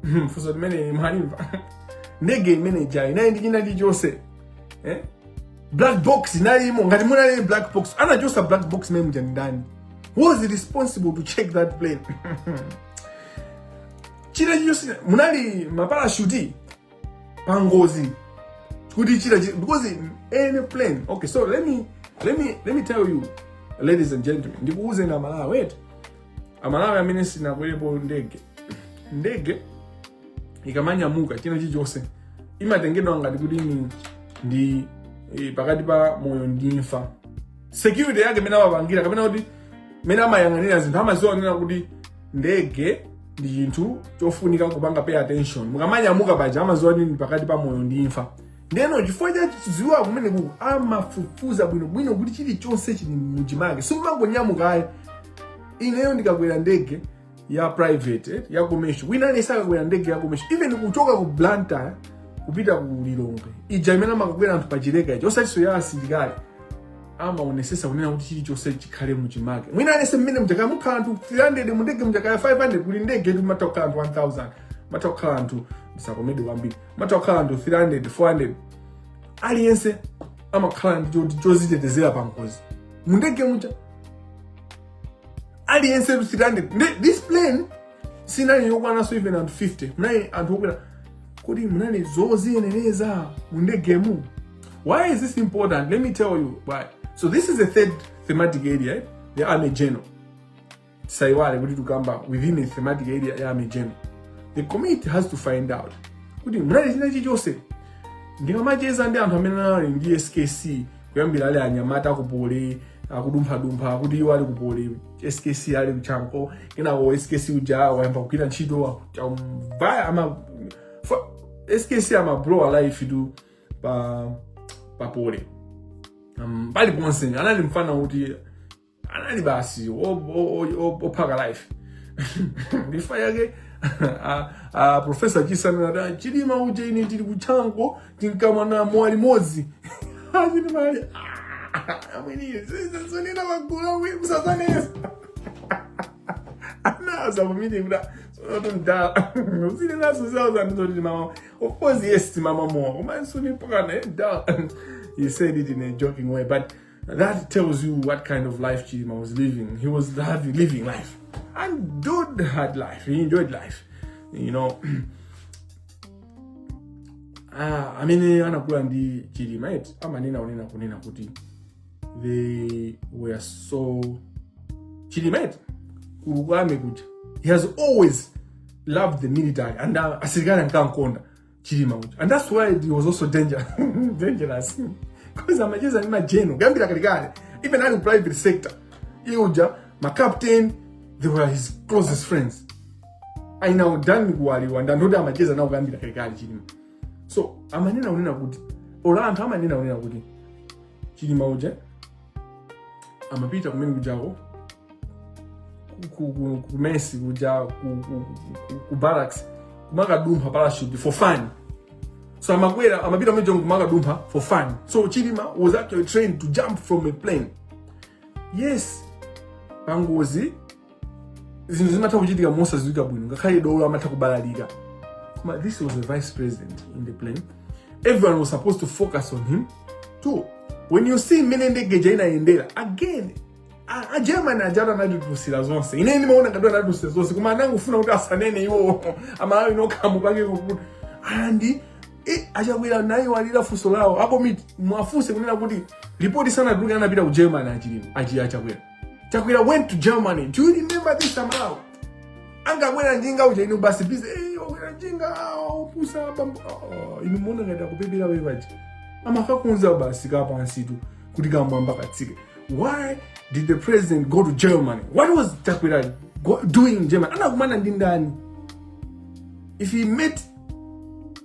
[SPEAKER 2] Hmm, funso limene mwalimva ndege imene ija inali ndi china chilichonse eh? black box inalimo ngati munalibe black box anachosa black box mmene muja ndani who was responsible to check that plane china chilichonse munali maparashuti pa ngozi kuti china chi- because in any plane okay so let me let me let me tell you ladies and gentlemen ndikuwuzeni amalawi wait amalawi amene simunakwelepo ndege ndege ikamanyamuka china chilichonse imatengedwa ngati kuti ni ndi eh, pakati pa moyo ndi imfa security yake imene amapangira kapena kuti imene amayang'anira zinthu amaziwa kunena kuti ndege ndi chinthu chofunika kupanga pay attention mukamanyamuka paja amaziwa ndi pakati pa moyo ndi imfa ndeno chifukwa cha kudziwa kumenekuku amafufuza bwinobwino kuti chilichonse chili muchimake simumangonyamuka ayi ineyo ndikakwera ndege ya private eh, ya commercial wina aliyense akakwera ndege ya commercial even kuchoka ku blantyre kupita ku lilongwe ija imene amakakwera anthu pa chileka icho osatiso ya asilikali amaonesesa kunena kuti chilichonse chikhale muchimake wina aliyense mmene muja kaya mukhala anthu 300 mundege muja kaya 500 kuli ndegetu matha kukhala anthu 1000 matha kukhala anthu ndisakomedwe kwambiri matha kukhala anthu 300 400 aliyense amakhala ndi choti chozitetezera pa ngozi mundege muja aliyense 300 Ndi- this plane sinali yokwananso even anthu 50 munali anthu okwera kuti munali zoziyenereza mu ndegemu why is this important let me tell you why so this is the third thematic area eh? the army general tisaiwale kuti tukamba within a thematic area ya army general the committee has to find out kuti munali china chilichonse ndikamacheza ndi anthu amene anali ndi skc kuyambira ali anyamata kupole akudumphadumpha akuti iwo ali kupole skc ali kuchanko kenako skc uja wayamba kugwira ntchito amavaya ama fa- skc amablowa lifetu pa papole um, paliponse anali mfana kuti anali basi ophaka life ndifa yake profesa chisano nada chilima uja ine tili kuchanko tinkamwa naye mowa limodzi achitimali amweniyo zizazonena magula uye musazanesa anaza pamene kuda sonoto mdala usine naso zawo zanizoti amamwa of course yes amamwa mowa koma suni pokana mdala he said it in a joking way but That tells you what kind of life Chilima was living. He was having, living life. And dude had life. He enjoyed life. You know. ah, amene anakula ndi Chilima eti amanena unena kunena kuti they were so Chilima eti kulukame kuja. He has always loved the military and uh, asilikali ankankonda. chilima uja and that's why he was also danger dangerous because amacheza ndi majeno kuyambira kalekale even ali ku private sector iye uja ma captain they were his closest friends ainawo dan kuwaliwa ndandoti amacheza nawo kuyambira kalekale chilima so amanena kunena kuti olo anthu amanena kunena kuti chilima uja amapita kumene kujako kumesi kuja ku barracks kumakadumpha parachute for fun so amakwera amapita kumene kujako kumakadumpha for fun so chilima was actually trained to jump from a plane yes pangozi zinthu zimatha kuchitika mosadziwika bwino ngakhale dolo amatha kubalalika koma this was the vice president in the plane everyone was supposed to focus on him too when you see mmene ndege ija inaendera again a- a german aja anatipusira zonse ine ndimaona ngati anatipusira zonse koma anangofuna kuti asanene iwowo amalawi ndikamupake kuti andi eh, achakwera naye walira funso lawo apo muwafunse kunena kuti ripoti sanatuluke anapita ku germany achilima achi achakwera chakwera went to germany do you remember this amalawi anakakwera njinga uja inu basi bize "Eh, wakwera njinga ah, opusa bambo Ah, inu muona ngati akupepera wevaji amakakuuzani basi kapansitu kuti kamwamba katsike why did the president go to germany what was chakwera go- doing in germany anakumana ndi ndani if he met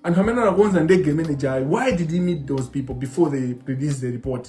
[SPEAKER 2] anthu amene anakonza ndege imene jayi why did he meet those people before they release the report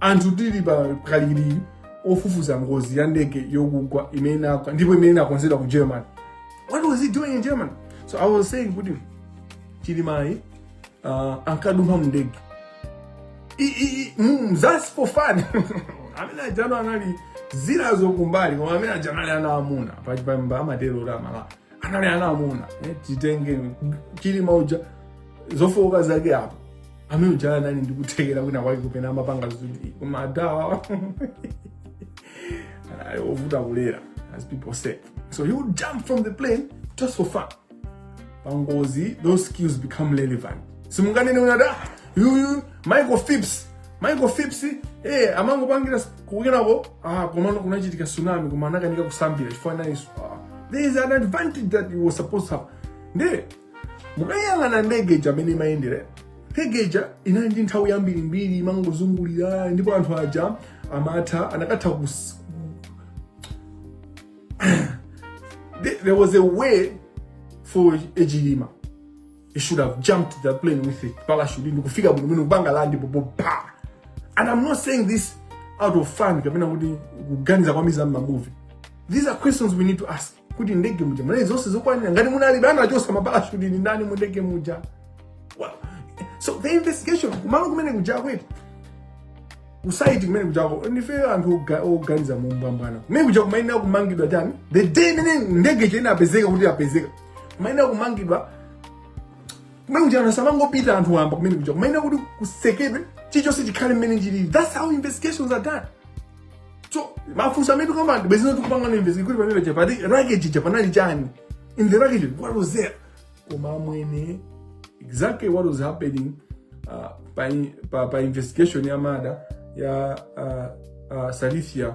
[SPEAKER 2] anthu tili pa kalikiliki ofufuza ngozi ya ndege yokugwa imene inagwa ndipo imene inakonzedwa ku germany what was he doing in germany so i was saying kuti chilimayi uh, ankadumpha mndege I- i- i- mm, that's for fun amene ajano anali zilazo kumbali koma amene ajano ali ana amuna pachipamba amatero amala anali ana amuna eh, titenge chilima uja zofooka zake apo amene uja anali ndi kuthekera kwina kwake kupena amapanga zoti koma adawa anali ovuta kulera as people say so he would jump from the plane just for fun pangozi those skills become relevant simunganene unada yuyu michael phelps michael phelps eh amangopangira kukenako ah komano kunachitika tsunami koma anakanika kusambira chifukwa naye ah, there is an advantage that you were supposed to have nde mukayang'ana ndege ija mmene imayendera ndege ija inali ndi nthawi yambirimbiri imangozungulira ndipo anthu aja amatha anakatha kus- there there was a way for a chilima he should have jumped the plane with a parachute ndikufika bwino bwino kupanga land popo pa and i'm not saying this out of fun kapena kuti kuganiza kwa miza mma movie these are questions we need to ask kuti ndege muja munali zonse zokwanira ngati munali bana achosa maparachute ni ndani mu ndege muja well, so the investigation kumalo kumene kuja kuti kusaiti kumene kujako ndife anthu oga- oganiza mumbwambwana kumene kuja kumayenera kumangidwa chani the day imene ndege ija inapezeka kuti yapezeka kumayenera kumangidwa kumene kuti anthu samangopita anthu wamba kumene kuja kumayenera kuti kusekedwe chilichonse chikhale mmene chilili that's how investigations are done so mafunso amene tikamba ndi bwezino tikupanga na investigate kuti pamene paja pa wreckage ija panali chani in the wreckage what was there koma amwene exactly what was happening uh, pa, pa, pa investigation ya murder ya uh, uh, Salithia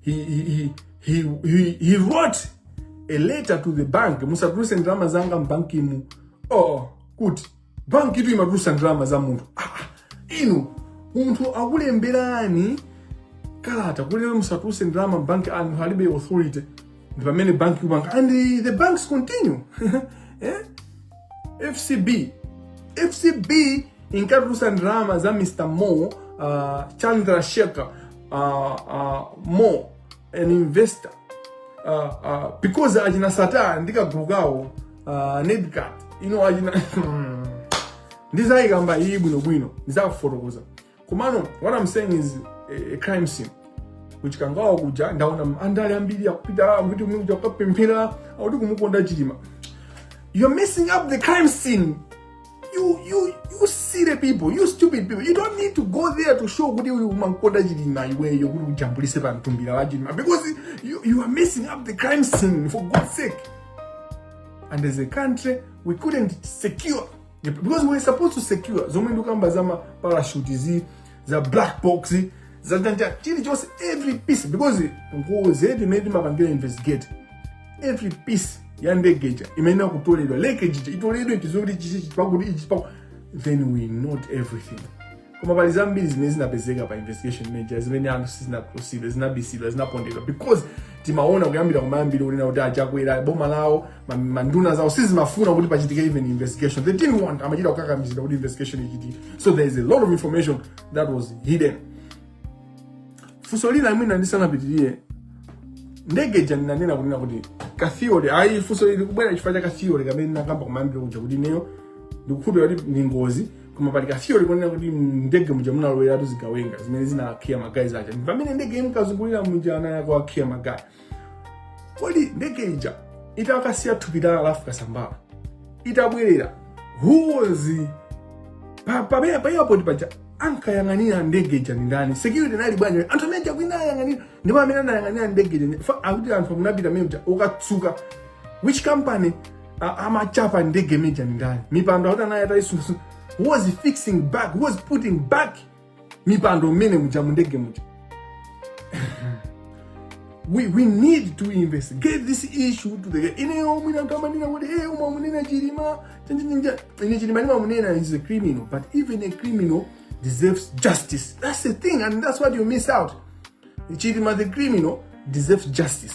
[SPEAKER 2] he, he, he, he, he, he wrote a letter to the bank musatuluse ndalama zanga mbankimu oh, kuti bankitu imatulusa ndalama za munthu ah, ah, inu munthu akulemberani kalata kuti musatuluse ndalama mbanki anthu alibe authority ndi pamene banki kupanga and the banks continue eh? FCB FCB inkatulutsa ndalama za Mr. More uh, Chandrasekhar uh, uh, More an investor uh, uh, because achina Sattar ndi kagulu kawo uh, Nedcat you know achina ndizayikamba iyi bwinobwino ndizakufotokoza komano what i'm saying is a, a crime scene ku Chikangawa kuja ndaona andale ambiri akupita kuti muja kukapemphera akuti kumukonda chilima you're messing up the crime scene you you you silly people you stupid people you don't need to go there to show kuti uyu umankonda chilima iweyo kuti ujambulise pa mtumbira wa chilima because you, you are messing up the crime scene for god's sake and as a country we couldn't secure because we're supposed to secure zomwe ndukamba za ma parachute zi za black box za tanja chilichonse every piece because ngozi ndi mmene timapangira investigate every piece ya ndege ija imayenera kutoledwa wreckage ija itoledwe chizokuti chichichi pakuti ichi paku then we note everything koma pali zambiri zimene zinapezeka pa investigation imene ija zimene anthu sizinakhusidwe zinabisidwa zinapondedwa because timaona kuyambira kumayambiriro kunena kuti achakwera boma lawo ma- manduna zawo sizimafuna kuti pachitike even investigation they didn't want amachita kukakamizidwa kuti investigation ichitike so there is a lot of information that was hidden funso lina mwina ndisanapitirire ndege ija ndinanena kunena kuti ka theory ayi funso lili kubwera chifukwa cha ka theory kamene ndinakamba kumayambiriro kuja kuti ineyo ndikukhulupira kuti ndi ngozi koma pali ka theory konena kuti ndege muja munaloweratu zigawenga zimene zinakhiya ma guys aja ndi pamene ndege imkazungulira muja anayamba kuwakhiya ma guys kodi ndege ija itakasiya thupi la a Ralph Kasambara itabwerera who was pa- pamene pa airport paja ankayang'anira ndege ija ndi ndani security inali bwanji anthu amene aja kwina ayang'anira ndipo amene anayang'anira ndege ija Fa- akuti anthu munapita mmene muja kukatsuka which company A- amachapa ndege imeja ni ndani mipando akuti anayi atayisungasu who was fixing back who was putting back mipando mmene muja mu ndege muja we, we need to investigate this issue to the ineyo mwina kamanina kuti e umamunena chilima chanjinja ine chilima limamunena is a criminal but even a criminal deserves justice that's the thing and that's what you miss out chilima the criminal deserves justice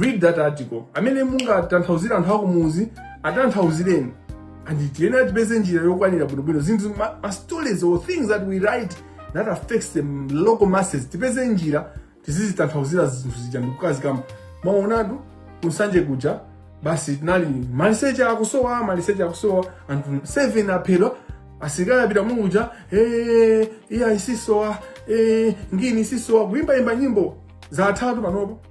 [SPEAKER 2] read that article amene mungatanthauzire anthu akumuzi atanthauzireni and tiyeni tipeze njira yokwanira bwinobwino zinthu ma, ma stories or things that we write that affects the local masses tipeze njira tizizitanthauzira zinthu zija ndikukazikamba mwaonatu kunsanje kuja basi tinali maliseche akusowa maliseche akusowa anthu 7 aphedwa asilikali apita muja eh, iya zikusowa eh, ngini zikusowa kuimbaimba nyimbo za atatu panopo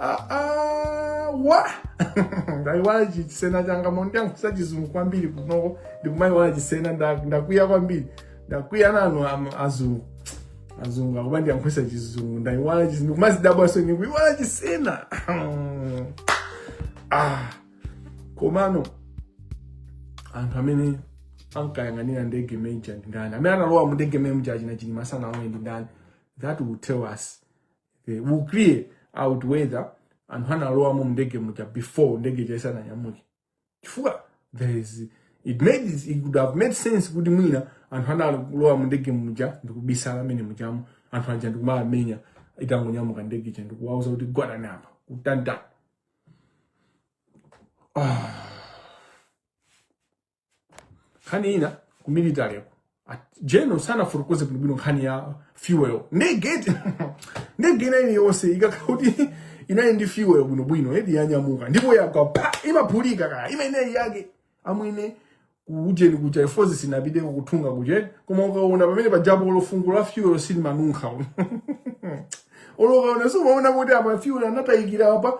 [SPEAKER 2] aa ndaiwala chisena changa mwandiyankhulitsa chizungu kwambiri kunoko ndikumayiwala chisena nda- ndakwiya kwambiri ndakwiya nanu am- azungu azungu akuba andiyankhulitsa chizungu ndaiwala chizungu ndikumazidabwaso ndikuiwala chisena ah komano anthu amene ankayang'anira ndege meja ndi ndani amene analowa mu ndege meja achina chilima sanalowe ndi ndani that will tell us that will clear out whether anthu analowamo mndege muja before ndege ija isananyamuke chifukwa there is it made it, it would have made sense kuti mwina anthu analowa mundege muja ndikubisala mmene mujamo anthu aja ndikumaamenya itangonyamuka ndege ija ndikuwauza kuti gwadani apa kutantani ah. nkhani ina ku military general sanafotokoze bwinobwino nkhani ya fuel ndegetu ndege ina iliyonse ikakhala kuti inali ndi fuel bwinobwino and yanyamuka ndipo yagwa pa imaphulika kaya imeneyi yake amwene kuujeni kuja Air Force sinapite ku Nthungwa kujeni koma ukaona pamene pajapo olo fungo la fuel silimanunkha olo ukaona siumaona kuti ah fuel anatayikira apa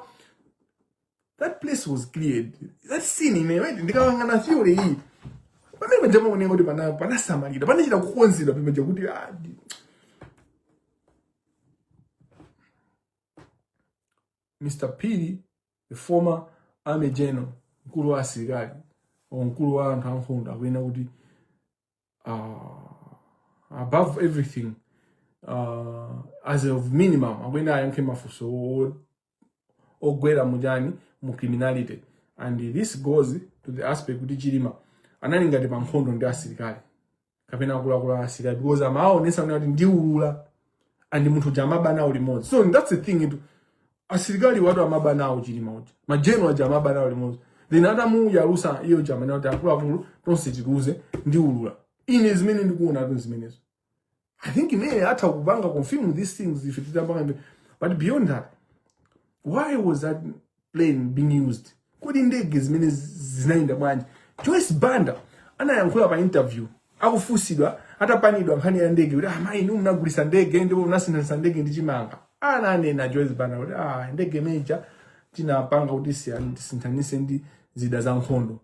[SPEAKER 2] that place was cleared that scene ine ndikayang'ana theory yi pamene paja amanena kuti pana panasamalira panachita kukonzedwa pamene paja kuti ah, ndi- Mr. Phiri, the former army general, mkulu wa asilikali, or mkulu wa anthu ankhondo akuyenera kuti uh, above everything uh, as of minimum akuyenera ayankhe mafunso o- ogwera mu ujeni mu criminality and this goes to the aspect kuti chilima anali ngati pa nkhondo ndi asilikali kapena akuluakulu a asilikali because amaonesa kuti ndiulula and munthu uja amaba nawo limodzi so that's the thing itu asilikali athu amaba nawo chilima uja ma general aja amaba nawo limodzi then atamuyalusa iye uja amanena kuti akuluakulu tonse tikuwuze ndiulula ine zimene ndikuonatu zimenezo i think amene atha kupanga confirm these things ife titapanga ndi- but beyond that why was that plane being used kodi ndege zimene zinayenda bwanji joyce banda anayankhula pa interview akufunsidwa atapanidwa nkhani ya ndege kuti amayi ah, inu munagulisa ndege ndipo munasinthisa ndege ndi chimanga ananena joyce banda kuti ah, ndege imeneija tinapanga kuti tisinthanise ndi zida za nkhondo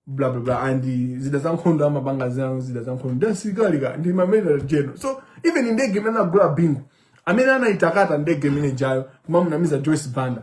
[SPEAKER 2] bla bla bla and zida za nkhondo amapanga zinazo zida za nkhondo ndi asilikali ka ndi ma major general so even ndege imene anagula bingu amene anaitakata ndege imenejayo kumamunamiza joyce banda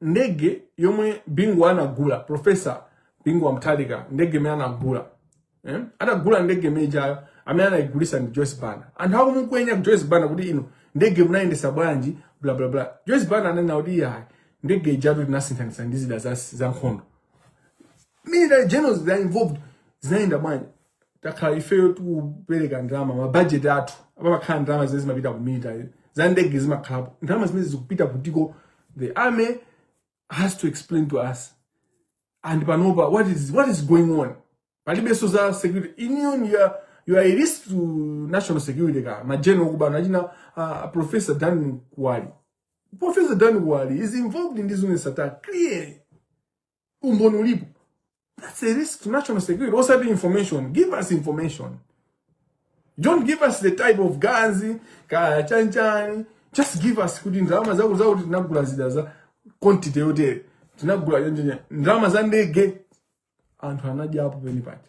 [SPEAKER 2] ndege yomwe bingu anagula profesa bingu wa mutharika ndege imene anagula eh? anagula ndege imenejayo amene anayigulisa ndi joyce banda anthu akumukwenya ka joyce banda kuti inu ndege munayendesa bwanji bla bla bla joyce banda ananena kuti iyayi ndege ijatu tinasinthanisa ndi zida za, za nkhondo military generals they are involved zinayenda bwanji takhala ifeyo tikupereka ndalama mabajeti athu pamakhala ndalama zimene zimapita ku military za ndege zimakhalapo ndalama zimene zikupita kutiko the army has to explain to us and panopa what is, what is going on palibenso za security union you are a risk to national security ka ma general okuba achina uh, professor dan kuwali professor dan kuwali is involved ndi zuneth sattar clearly umboni ulipo that's a risk to national security osati information give us information don't give us the type of guns kaya chanchani just give us kuti ndalama zakuti zakuti tinagula zida za quantity yotere tinagula chanchani ndalama za ndege anthu anadyapo pamene paja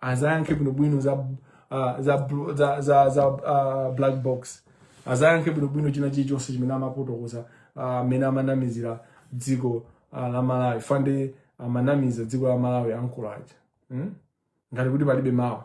[SPEAKER 2] azayankhe bwinobwino za uh, za bl- za za, za uh, black box azayankhe bwinobwino china chilichonse chimene amafotokoza ah, amene amanamizira dziko ah, la malawi fande amanamiza dziko la malawi akulu aja hmm? ngati kuti palibe mawa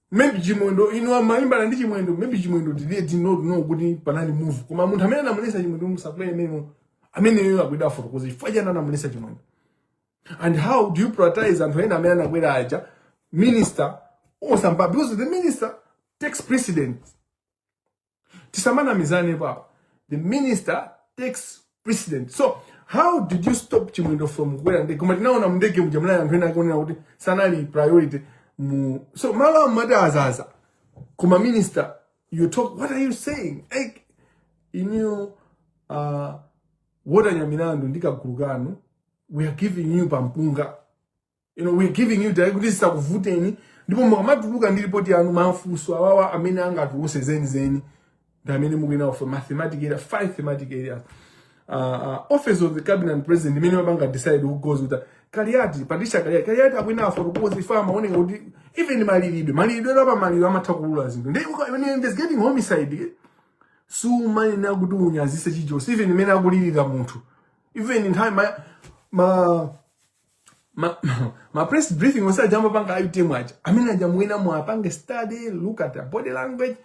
[SPEAKER 2] maybe chimwendo inu amalimbana ndi chimwendo maybe chimwendo did did not know kuti panali move koma munthu amene anamulesa chimwendo asakwere ameneyo akuyenera afotokoze chifukwa chani anamulesa chimwendo and how do you prioritize anthu ena amene anakwera aja minister or somebody because the minister takes precedence tisamanamizane apapa the minister takes precedence so how did you stop chimwendo from kukwera ndege koma tinaona mndege muja munali anthu ena akuoneka kuti sanali priority mu so malo amati azaza koma minister you talk what are you saying like inu uh, walter nyamilandu ndi kagulu kanu we are giving you pampunga you know, we're giving you direct kuti zisakuvuteni ndipo mukamatuluka ndi ripoti yanu mafunso awawa amene angatuluse zenizeni ndi amene mukuyenera kufunsa mathematic area five thematic areas uh, uh, office of the cabinet and president imene mapanga decide who goes with that kaliati patricia kaliati kaliati akuyenera afotokoze ife amaoneka kuti even malilidwe malilidwe apa maliro amatha kuulula zinthu ndi uka- when you're investigating homicide eh, sumanena kuti unyazise chilichonse even mmene akulirira munthu even nthawi ma, ma ma, ma press briefing onse aja amapanga utm aja amene aja mwina muwapange study look at their body language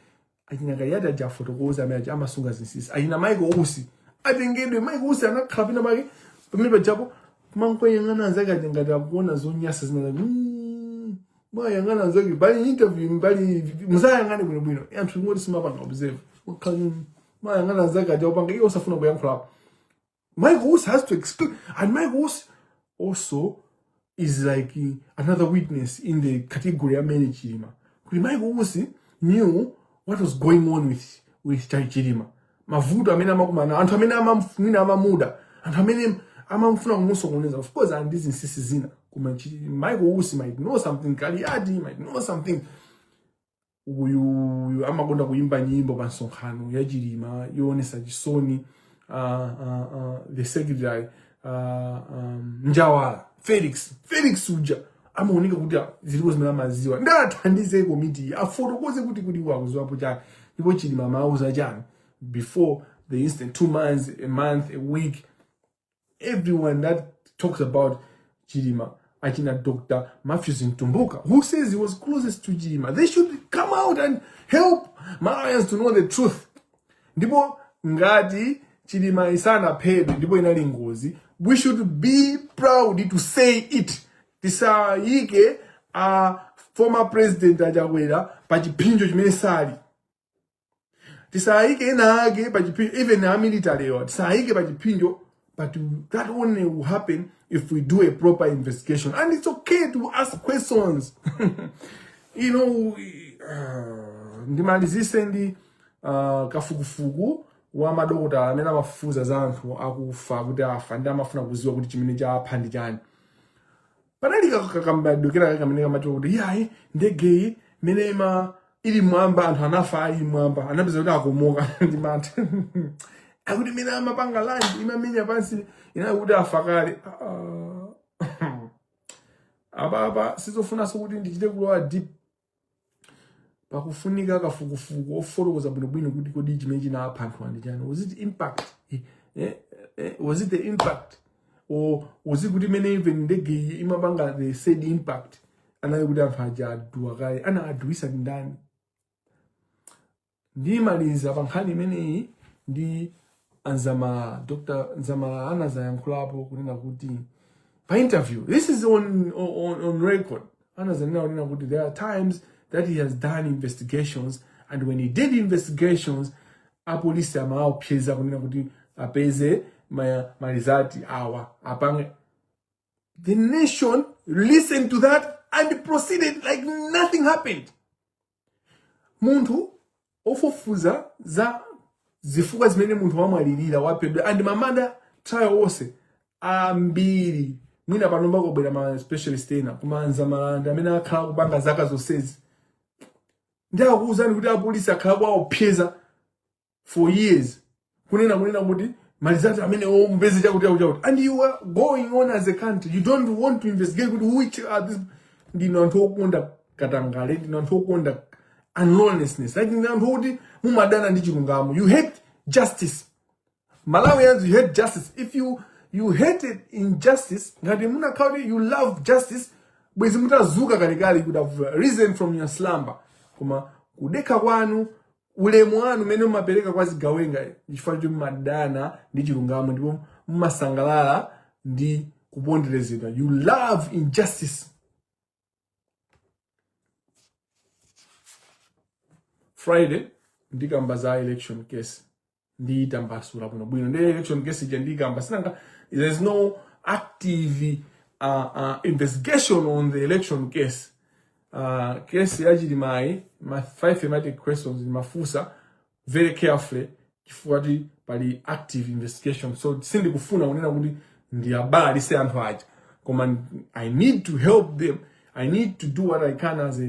[SPEAKER 2] achina kaliyati aja afotokoze amene aja amasunga zinsinsi achina Michael Usi atengedwe Michael Usi anakhala pina pake pamene pajapo amangoyang'ana anzake aja ngati akuona zonyasa zina mm, mwayang'ana anzake pali interview pali muzawayang'ane bwinobwino anthu kungoti simapanga observe Ukhala, mm, mwayang'ana anzake aja upanga iye usafuna kuyankhulapo Michael Usi has to explain. And Michael Usi also is like uh, another witness in the category of Mary Chirima. Kuti Michael Usi knew what was going on with, with Chai Chirima. Mavuto amene amakumana, anthu amene amamfuna amamuda, anthu amene amamfuna kumusokoneza. Of course, ali ndi zinsisi zina. Koma Chi- Michael Usi might know something, Kaliati might know something. uyuyu amakonda kuyimba nyimbo pa msonkhano ya chilima yoonesa chisoni uh, uh, uh, the secretary uh, um, njawala felix felix uja amaoneka kuti zilipo zimene amaziwa ndi athandize komiti afotokoze kuti kuti iwo akuziwapo chani ndipo chilima amauza chani before the incident two months a month a week everyone that talks about Chilima, Achina Dr. Matthews in Tumbuka, who says he was closest to Chilima. They should come out and help Malawians to know the truth. Ndipo ngati Chilima isana paid, ndipo inali ngozi, we should be proud to say it. Tisayike a former president Achakwera pa chipinjo chimene sali. tisayike ena ake pa chipsinjo even a military wo tisayike pa chipsinjo but that only will happen if we do a proper investigation and it's okay to ask questions you know uh, ndimalizise ndi uh, kafukufuku wa madokota amene amafufuza za anthu akufa kuti afa ndi amafuna kuziwa kuti chimene chapha ndi chani panali kakambidwe kenakake kamene kamati kuti yayi ndegeyi mene ima ili mwamba anthu anafa ali mwamba anapeza kuti akomoka ndi mantha akuti mene imapanga land imamenya pansi anali kuti afa kale Ah. apapa sizofunanso kuti ndichite kulowa deep pakufunika kafukufuku ofotokoza bwinobwino kuti kodi chimene chinawapha anthu awa ndi chani was it impact eh, eh, eh, was it the impact or was it kuti mmene even ndege iyi imapanga the said impact anali kuti anthu aja aduwa kale ana aduwisa ndani ndimaliza pa nkhani imeneyi ndi a dzamalala dr dzamalala anazayankhulapo kunena kuti pa interview this is on, on, on record anazanena kunena kuti there are times that he has done investigations and when he did investigations apolisi amawaopseza kunena kuti apeze ma- ma results awa apange the nation listened to that and proceeded like nothing happened munthu ofufuza za zifukwa zimene munthu wamwalirira waphedwa and ma murder trial onse ambiri mwina pano pakubwera ma specialist ena koma a dzamalala ndi amene akhala akupanga zaka zonsezi ndi akuwuzani kuti apolisi akhala akuwaopseza for years kunena kunena kuti ma results amene mupeze chakuti chakuti chakuti and you are going on as a country you don't want to investigate kuti which are these ndinu anthu okonda katangale ndinu anthu okonda unlawlessness like ndinu anthu okuti mumadana ndi chilungamo you hate justice malawians you hate justice if you you hated injustice ngati munakhala kuti you love justice bwezi mutadzuka kalekale you would have risen from your slumber koma kudekha kwanu ulemu wanu umene mumapereka kwa zigawenga ndi chifukwa choti mumadana ndi chilungamo ndipo mumasangalala ndi kuponderezedwa you love injustice friday ndikamba za election case ndiitambasula bwinobwino ndiye election case ija ndikamba si nanga there is no active uh, uh, investigation on the election case uh, case ya chilima ma five thematic questions ndimafunsa very carefully chifukwa choti pali active investigation so sindikufuna kunena kuti ndiwabalalitse anthu aja koma i need to help them i need to do what i can as a